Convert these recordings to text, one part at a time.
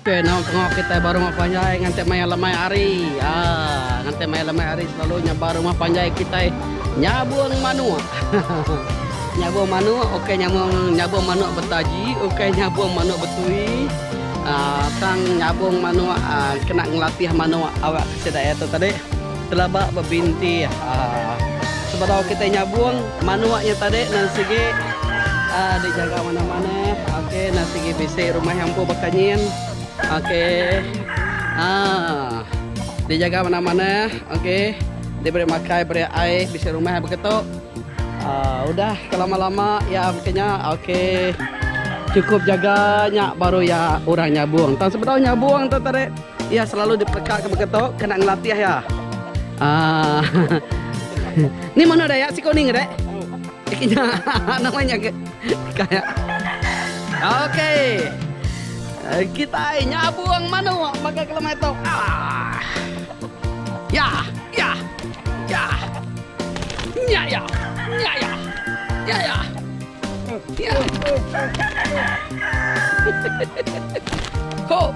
Okey eno tengah kitai ba rumah panjai nganti maya lemai hari aaa nganti maya lemai hari selalu nya ba rumah panjai kitai nyabung manuk nyabung manuk okey nyabung nyabung manuk betaji okey nyabung manuk betui aaa tang nyabung manuk aaa kena ngelatih manuk awak sida nya tu tadi. Telaba bebinti sebedau kitai nyabung manuk nya tadi nan sigi dijaga mana-mana ok nan sigi bisi rumah nya empu baka nyin ok dijaga mana-mana ok diberi makai beri ai bisi rumah baka tu udah ke lama-lama iya baka nya ok cukup jaga nya baru iya orang nyabung tang sebedau nyabung tu tadi. Iya selalu dipeleka ke baka tu kena ngelatih iya. Ah. ni mana dah ya siku ni ngedek? Ikinya namanya ke. Kaya. Okey. Eh, kita nyabung manu baka kelemai tu. Ah. Ya, ya. Ya. Ya, ya. Ya, ya. Ya, ya. Ya. Ho.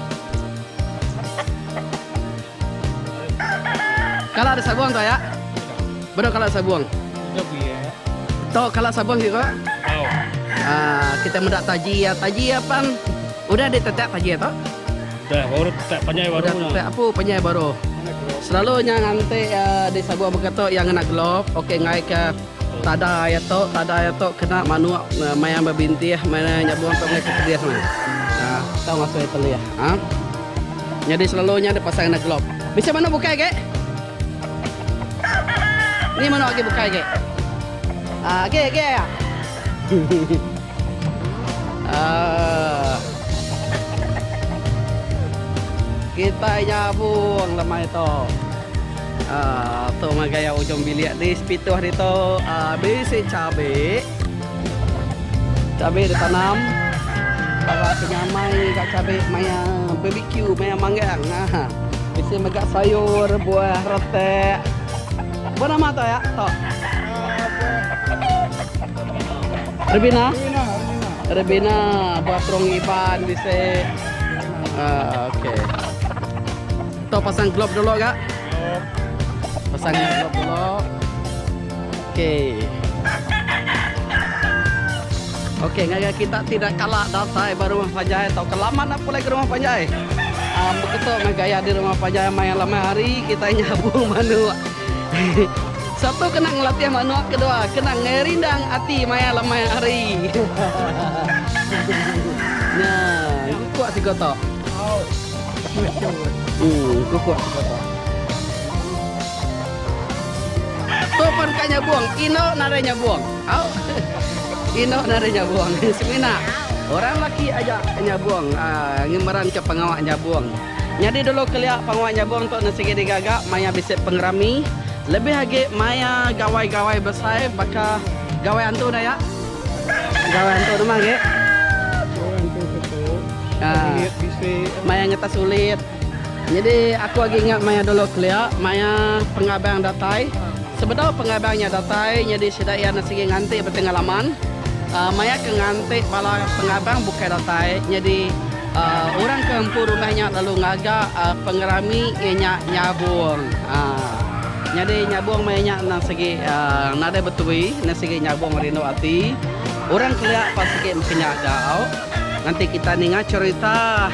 Kala ada sabong tu ayak. Beda kala sabong. Tok kala sabong juga. Haa kita meda taji iya taji iya pang udah di tetak taji iya tok. Udah baru tetak panjai baru nya. Udah tetak apu panjai baru. Selalu nya nganti di sabong baka tok iya ngena glove okey ngaika. Tada aya to tada aya to kena manuk maya bebintih maya nyabung to meh ke pedis meh. Nah tau ngasoi telih ha. Nyadi selalu nya deh pasang enda glove. Bisi manuk bukai agi. Ni manuk agi bukai agi. Agi agi aya. Kitai nyabung lemai tu. Tu ngagai iya ujung bilik di sepituh ditu bisi cabi. Cabi ditanam bala penyamai ga cabi maya bbq maya manggang ahaa. Bisi mega sayur buah retak. Apai nama tu iya? Tok. Rebina. Rebina buat terong iban di se. Ah, okey. Tu pasang glob dulu gak. Pasang glob dulu. Okey. Okey, ngaga kita tidak kalah datai baru rumah panjai atau kelaman nak pulai ke rumah panjai. Ah, um, beketuk gaya di rumah panjai main lama hari kita nyabung manu. Satu kena ngelatih manok kedua kena ngerindang ati maya lemai hari. Nya engku kuak siko to. Uh engku kuak siko to. Tu pun ka nyabong ino nadai nyabong. Au. Ino nadai nyabong. Semina. Orang laki aja nyabong ngemeranka pengawa nyabong. Nyadi dulu kelia penguat nyabung tu ne sigi digaga maya bisi pengerami lebih agi maya gawai-gawai besai baka gawai antu da ya. Gawai antu tu mah agi. Gawai antu satu. Ulit bisi. Maya ngetas ulit. Nyadi aku agi ingat maya dulu kelia maya pengabang datai. Sebedau pengabang nya datai nyadi sida iya ne sigi nganti betengah laman. Maya ke nganti bala pengabang bukai datai nyadi. Orang ke empu rumah nya lalu ngaga pengerami iya nya nyabong. Nyadi nyabong maya nya endang sigi nadai betui, endang sigi nyabong rindu ati. Orang kelia pa sigi mesti nyaga au. Nganti kita ninga cherita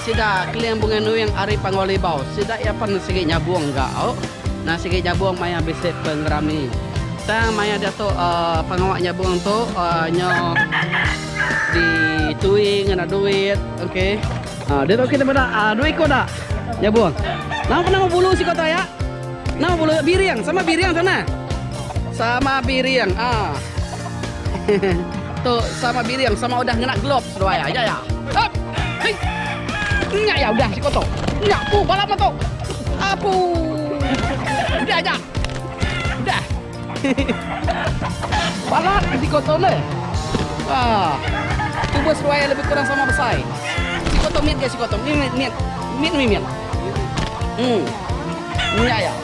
sida Keling Bungai Nuing ari Panggau Libau. Sida iya pen sigi nyabong ga au. Endang sigi nyabong maya bisi pengerami. Tang maya diatu pengawa nyabong tu nyau. Di tui ngena duit okey. Ha dia okey nama dak? Ah dua ekor dak? Nyabung. Nama pun nama bulu siko taya? Nama bulu biring sama biring sama. Sama biring. Ah. tu sama biring sama udah ngena gloves dua ya. Ya ya. Hop. Hei. Nya ya udah siko tu. Nya pu balap tu. Apu. Udah aja. Udah. Balat ke siko tu le. Ha. Tubuh seduai lebih kurang sama besai. Siko tu mit ke siko tu. Mit mit mit. Mit mit mit. Hmm. Nya ya.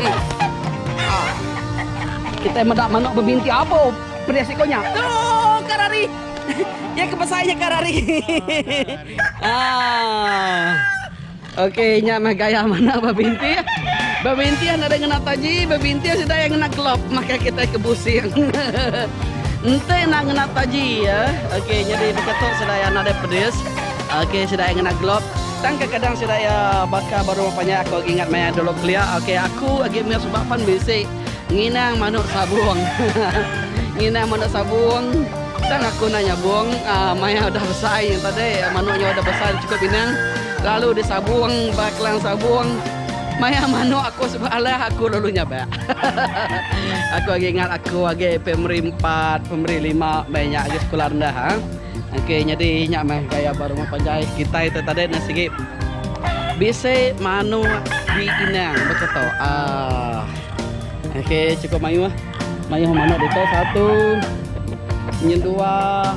Hmm. Ha. Kita meda manok bebinti apo pedih siko nya. Tu ka rari. Iya ke besai nya ka rari. Ha. Ok nya meh gaya manah bebintih. Bebintih nadai ngena taji, bebintih sida iya ngena glove makai kitai ke busing. Enti enda ngena taji ya. Ok nyadi baka tu sida iya nadai pedis. Ok sida iya ngena glove. Tang kadang-kadang sida iya baka baru panjai aku agi ingat maya dulu kelia. Ok aku agi meh suba pan bisi. Nginang manuk sabung. Nginang manuk sabung. Tang aku enda nyabung maya udah besai tadi manuk nya udah besai udah cukup inang lalu disabung ba kelang sabung maya manuk aku suba alah aku lalu nyabak. Aku agi ingat aku agi primary empat primary lima meh nya agi sekula rendah. Okey nyadi inya meh gaya ba rumah panjai kitai tu tadi ne sigi bisi manu di inang baka tu. Ah. Okey cukup mayuh. Mayuh manu deka satu. Nyen dua.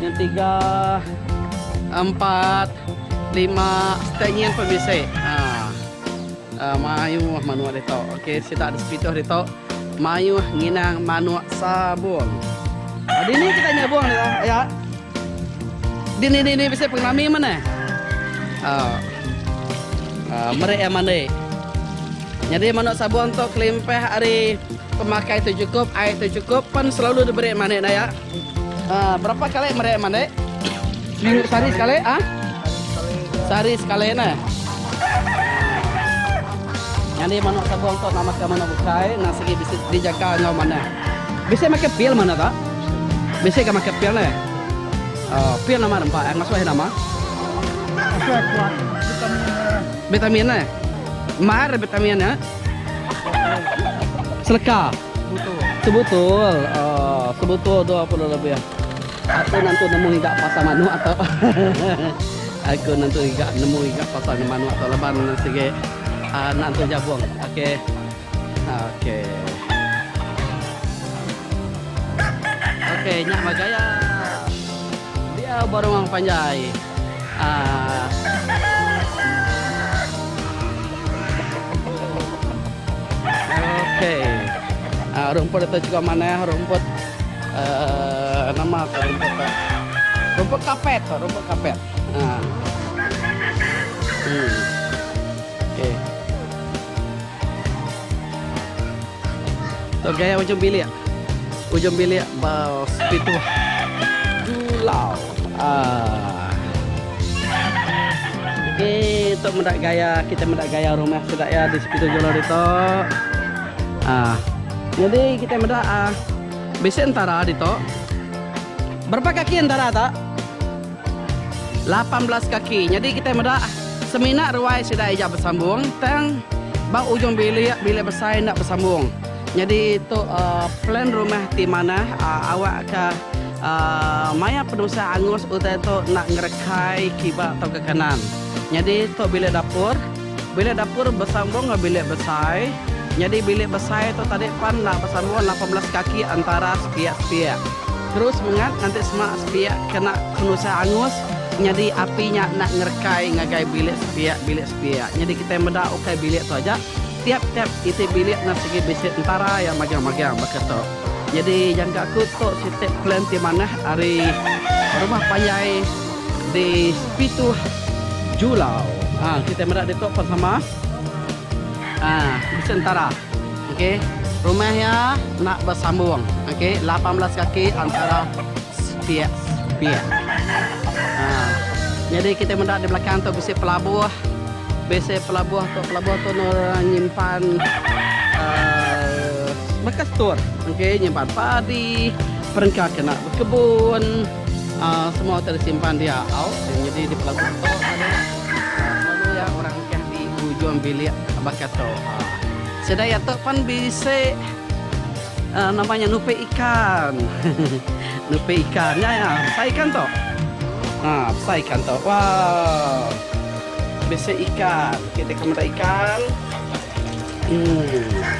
Nyen tiga. Empat. Lima. Tanya pemisi. Ah. Mayuh manuk ditu. Okey sitak ada sepituh ditu. Mayuh nginang manuk sabung. Dini kita nyabung dia. Ya. Dini dini bisi pengelami mana? Uh, uh, merik yang mandi. Jadi manuk sabung tu kelimpah hari pemakai tu cukup, air tu cukup, pan selalu diberi manik naya. Berapa kali meri mandi? Seminggu sehari sekali? Ha? Sehari sekali ne. Nyadi manok sabong tu nama ke manok bukai nang sigi bisi dijaga enggau manah. Bisi makai pil manah tu? Bisi ga makai pil ne. Oh, pil nama rempa eh ngasuh iya nama? Ngasuh iya kuat. Vitamin ne. Vitamin ne. Mahar vitamin ne. Seleka. Sebutul. Sebutul. Oh, sebutul 20 lebih. Aku nanti nemu iga pasal manu atau aku nanti iga nemu iga pasal manu atau leban sigi uh, ah, nanti jabung. Okey. Okey. Okey, nyak magaya. Dia baru mang panjai. Ah. Uh, Ok uhh rumput atu chegau manah rumput uhh nama ko rumput tu rumput kapet ko rumput kapet uhh uhh ok tu gaya ujung bilik ujung bilik ba sepitu julau. Tok meda gaya kita meda gaya rumah sida iya di Sepitu Jolo ditu. Nyadi kita meda bisi entara ditu. Berapa kaki entara tu? Lapan belas kaki. Nyadi kita meda semina ruai sida iya besambung tang ba ujung bilik, bilik besai enda besambung. Nyadi tu plan rumah ti manah awak ka maya penusah angus utai tu enda ngerekai kiba tauka kanan. Nyadi tu bilik dapur. Bilik dapur besambung enggau bilik besai. Nyadi bilik besai tu tadi pan enda besambung lapan belas kaki antara sepiak-sepiak. Terus mengat nganti sema sepiak kena penusah angus nyadi api nya enda ngerekai ngagai bilik sepiak-bilik sepiak. Nyadi kitai meda ukai bilik tu aja. Tiap-tiap iti bilik enda sigi bisi tentara iya magang-magang baka tu. Nyadi jangka aku tu siti plan ti manah ari rumah panjai di Pituh Julau. Haa kitai meda ditu pun sama. Haa bisi tentara. Okey rumah iya enda besambung okey lapan belas kaki antara sepiak-sepiak. Haa nyadi kitai meda di belakang tu bisi pelabuh. Bisi pelabuh tu, pelabuh tu nur nyimpan baka store okey nyimpan padi, perengka kena bekebun aaa semua tu disimpan dia au nyadi di pelabuh tu selalu iya orang mekah di ujung bilik baka tu aaa. Sida iya tu pen bisi aaa nama nya nupi ikan nupi ikan nya iya besai ikan tu aaa besai ikan tu waau. Bisi ikan. Okey, deka meda ikan. Hmm.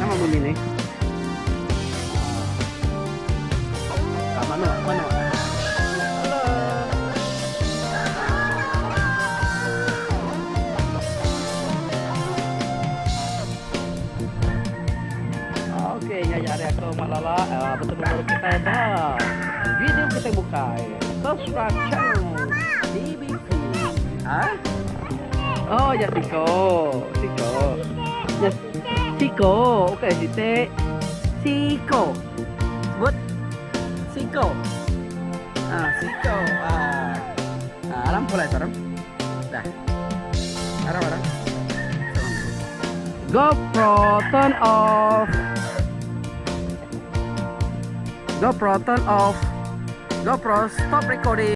Nama bunyi ni? Ka manok manok. Okey nya aja ari aku Mak Lala eh betemu baru kitai ba video kitai bukai. Subscribe channel DBP. Ha? Oh, ya siko. Siko. Ya siko. Okey, site. Siko. Sebut. Siko. Ah, siko. Ah. Ah, alam pula itu, Aram. Dah. Aram, Aram. GoPro turn off. GoPro turn off. GoPro stop recording.